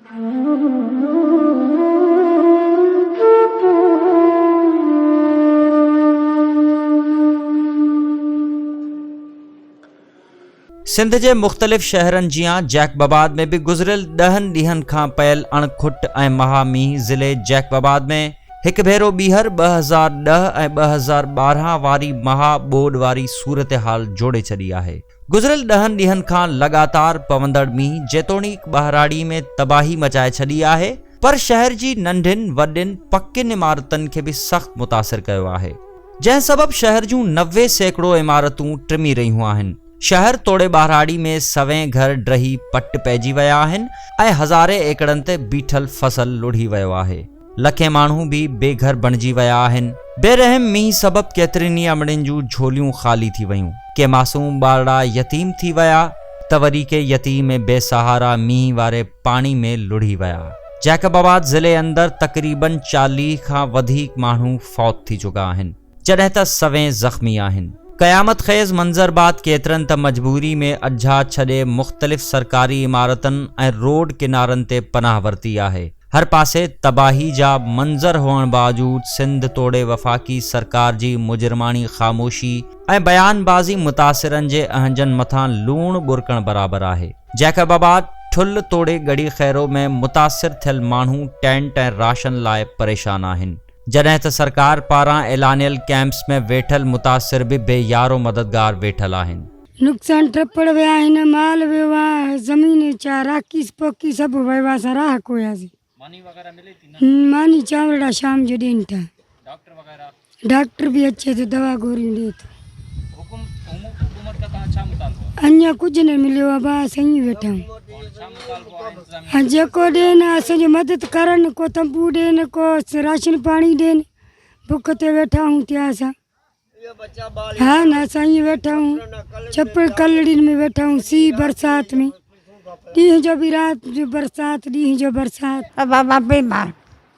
سنڌ جي مختلف شهرن جيان جيڪب آباد ۾ به گذريل ڏهن ڏينهن کان پيل اڻ کٽ ۽ مها مينهن ضلعي جيڪب آباد ۾ هڪ ڀيرو ٻيهر ٻه هزار ڏهه ۽ ٻه هزار ٻارهن واري مها ٻوڏ واري صورتحال جوڙي ڇڏي آهي گذريل ڏهن ڏينهن کان لڳاتار پوندڙ مينهن جيتوڻيڪ ٻهراڙي ۾ تباهي مچائي ڇڏي آهي پر شهر جي ننڍين وڏين پڪين عمارتن کي به سخت متاثر ڪيو آهي جنهن سبب شهر جون نوي سيڪڙو عمارتون ٽمي رهيون آهن شهر توڙي ٻهراڙي ۾ سوين گهر ڊهي پٽ پئجي ويا آهن ۽ هزارين ايڪڙن تي بيٺل فصل لڙهي ويو آهي. لکين ماڻهو به بي گهر بڻجي ويا آهن. بي رحم مينهن سبب ڪيترين ئي امڙين جون جهوليون خالي ٿي ويون، ڪي معصوم ٻارڙا يتيم ٿي ويا ته وري ڪي يتيم ۽ بي سهارا مينهن واري پاڻي ۾ لڙهي ويا. جيڪب آباد ضلعي اندر تقريبن چاليهه کان وڌيڪ ماڻهو فوت ٿي چڪا آهن. جڏهن ته سوين زخمي آهن. قيامت خيز منظر بعد ڪيترن ته مجبوري ۾ اجها ڇڏي مختلف سرڪاري عمارتن ۽ روڊ ڪنارن تي پناهه ورتي آهي. هر پاسي تباهي جا منظر هئڻ باوجود سنڌ توڙي وفاقي سرڪار جي مجرماڻي خاموشي ۽ بيان بازي متاثرن جي اهنجن مٿان لوڻ ٻرڪڻ برابر آهي. جيڪب آباد، ٺل توڙي ڳڙهي خيرو ۾ متاثر ٿيل ماڻهو ٽينٽ ۽ راشن لاء پريشان آهن. جڏهن ته سرڪار پاران اعلانيل ڪئمپس ۾ ويٺل متاثر به بي يار و مددگار ويٺل آهن. نقصان ٽپڙ ويا آهن، مال ويو آ، زمين چاراڪيس پوکي سڀ ويو آ، اسان راهه کوياسي، ماني چانورڙا شام جو ڏين ٿا، ڊاڪٽر به اچي ٿو دوا گوريون ڏي ٿو. اڃا ڪجهه نه مليو آهي ڀاء سهي ويٺا آهيون جيڪو ڏين اسان جي مدد ڪرن ڪو تنبو ڏين ڪو راشن پاڻي ڏين بک تي ويٺا آهيون تي اسان ها نه اسان ائين ويٺا آهيون چپل ڪلهڙين ۾ ويٺا آهيون سي برسات ۾ ڏينهن جو به رات جو برسات ڏينهن جو برسات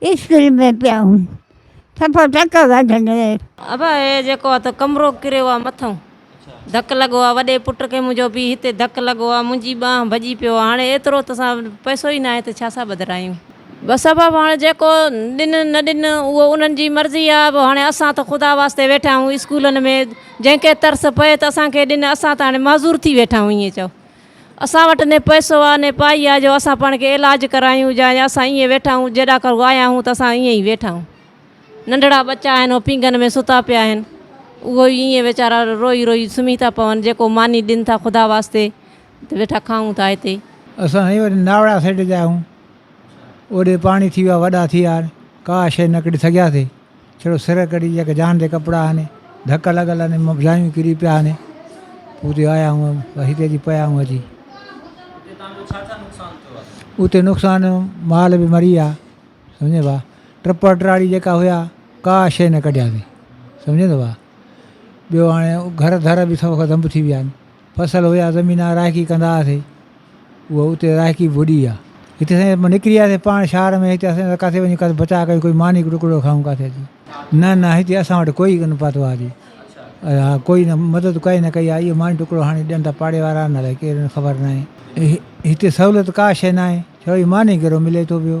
اسڪول ۾ پيا هون صفا ٽڪ وڍندي. ابا هي جيڪو آ تو ڪمرو ڪريو آ مٿئون ڌڪ لڳو آ وڏي پٽ کي منهنجو بي هتي ڌڪ لڳو آ منهنجي ٻانهن ڀڄي پيو آ هاڻي ايترو تو سان پئسو ئي ناهي ته ڇا سان ٻڌرايون. بس ابا به هاڻي جيڪو ڏن نه ڏن اهو انهن جي مرضي آ به هاڻي اسان ته خدا واسطي ويٺا آهيون اسڪولن ۾ جنهن کي ترس پئي ته اسان کي ڏن اسان ته هاڻي معذور ٿي ويٺا آهيون ائين چئو. اسان وٽ ني پئسو آ ني پائي آ جو اسان پاڻ کي علاج ڪرايون جا اسان ائين ويٺا آهون جي ڏاڪر آيا آهون ته اسان ائين ئي ويٺا آهون ننڍڙا ٻچا آهن اهي پينگهن ۾ ستا پيا آهن اهو ئي ائين ويچارا روئي روئي سمهي ٿا پون جيڪو ماني ڏين ٿا خدا واسطي ته ويٺا کائون ٿا هتي اسان سائين وري ناوڙا سئيڊ جا آهيون اوڏي پاڻي ٿي ويا وڏا ٿي ويا ڪا شيء نه ڪڍي سگهياسي ڇڙو سر ڪڍي جيڪ جان تي ڪپڙا آني ڌڪ لڳل آني مبزايون ڪري پيا آني پوء تي آيا آهيون هتي جي پيا آهيون اچي اتي نقصان مال بي مري ويا سمجهي با ٽپڙ ٽراڙي جيڪا هيا ڪا شي نه ڪڍياسي سمجهي با ٻيو هاڻي گهر ڌر بي سڀ ختم ٿي ويا آهن فصل هيا زمين رائقي ڪندا هئاسي اهو اتي رائقي ڀڏي آ هتي سائين نڪري وياسي پاڻ شهر ۾ هتي اسان ڪاٿي وڃي ڪاٿي بچا ڪري ڪوئي ماني ٽڪڙو کائون ڪاٿي اچي نه نه هتي اسان وٽ ڪوئي ڪن پاتو آ جي اها ڪوئي نه مدد ڪائي نه ڪئي آئي ماني ٽڪڙو هاڻي ڏين ٿا پاڙي وارا نه ڪير خبر ناهي هتي سهولت ڪا شي ناهي ڇوئي ماني ڪيرو ملي ٿو پيو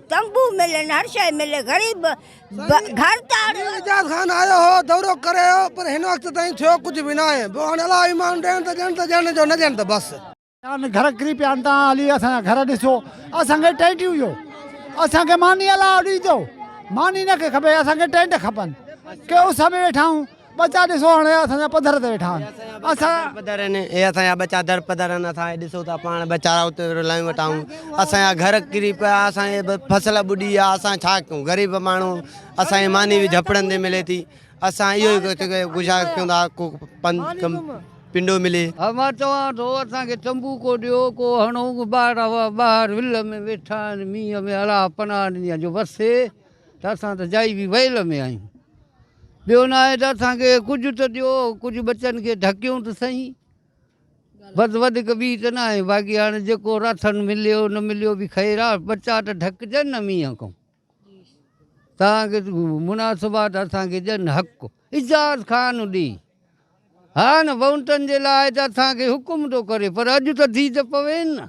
تنبو ملن هر شئي ملي غريب گهر تاڙ. مير اعجاز خان آيو هو دورو ڪري ويو پر هن وقت تائين ٿيو ڪجهه به ناهي پوء هاڻي الله ايمان ڏيڻ ته ڏيڻ ته ڏيڻ جو نه ڏيڻ ته بس. جان گهر ڪري پيا آهن تان علي اسان جا گهر ڏسو اسان کي ٽينٽ ڏيو اسان کي ماني الله ڏيندو ماني نه کي کپي اسان کي ٽينٽ کپن ڪي اس ۾ ويٺا آهيون ٻچا ڏسو هاڻي اسان جا پڌر تي ويٺا آهن اسان جا پڌر آهن اهي اسان جا ٻچا در پڌر آهن اسان کي ڏسو ٿا پاڻ ويچارا اتي رلايون وٽا آهون اسان جا گهر ڪري پيا اسان جي فصل ٻڏي ويا اسان ڇا ڪيون غريب ماڻهو اسان جي ماني به جهپڙن تي ملي ٿي اسان اهو ئي گذارش ڪيون ٿا ڪو پنڊو ملي ها مان چوان ٿو اسان کي چنبو ڪو ڏيو ڪو هڻو ٻار ٻاهر ول ۾ ويٺا آهن مينهن ۾ اڙاهه پناهه ڏني آهن جو وسي ته اسان ته جائي به ويل ۾ آهيون. ٻيو ناهي ته اسان کي ڪجهه ته ڏيو، ڪجهه ٻچن کي ڍڪيون ته سهين. بس وڌيڪ ٻي ته ناهي، باقي هاڻي جيڪو راٿن مليو نه مليو به خير آهي، ٻچا ته ڍڪجن نه مينهن کان. تان کي مناسبات اسان کي ڏين حق اعجاز خان ڏي. هاڻ وونٽن جي لاء ته اسان کي حڪم ٿو ڪري پر اڄ ته ڌي ته پوين نه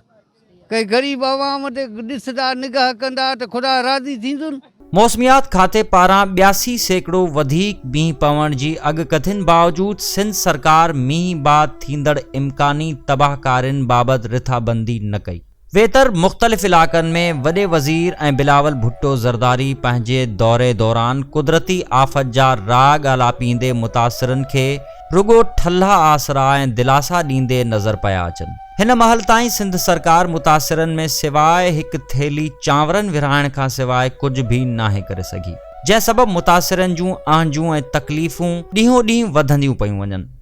ڪنهن غريب عوام تي ڏسدا نگاهه ڪندا ته خدا راضي ٿيندن. موسميات کاتي پاران ٻياسي سيڪڙو وڌيڪ مينهن پوڻ جي اڳڪٿين باوجود سنڌ سرڪار مينهن بعد ٿيندڙ امڪاني تباهڪارين بابت رٿابندي نه ڪئي. ويتر مختلف علائقن ۾ وڏي وزير ۽ بلاول ڀٽو زرداري پنهنجي دوري دوران قدرتي آفت جا راء ڳالهاپيندي متاثرن کي رڳو ٺلها آسرا ۽ دلاسا ڏيندي نظر پيا اچن هن مهل تائين سنڌ سرڪار متاثرن ۾ سواء هڪ ٿيلهي چانورن ورهائڻ کان سواء ڪجهه به ناهي ڪري سگهي جنهن سبب متاثرن جون اهنجون ۽ تڪليفون ڏينهون ڏينهن وڌنديون پيون وڃن.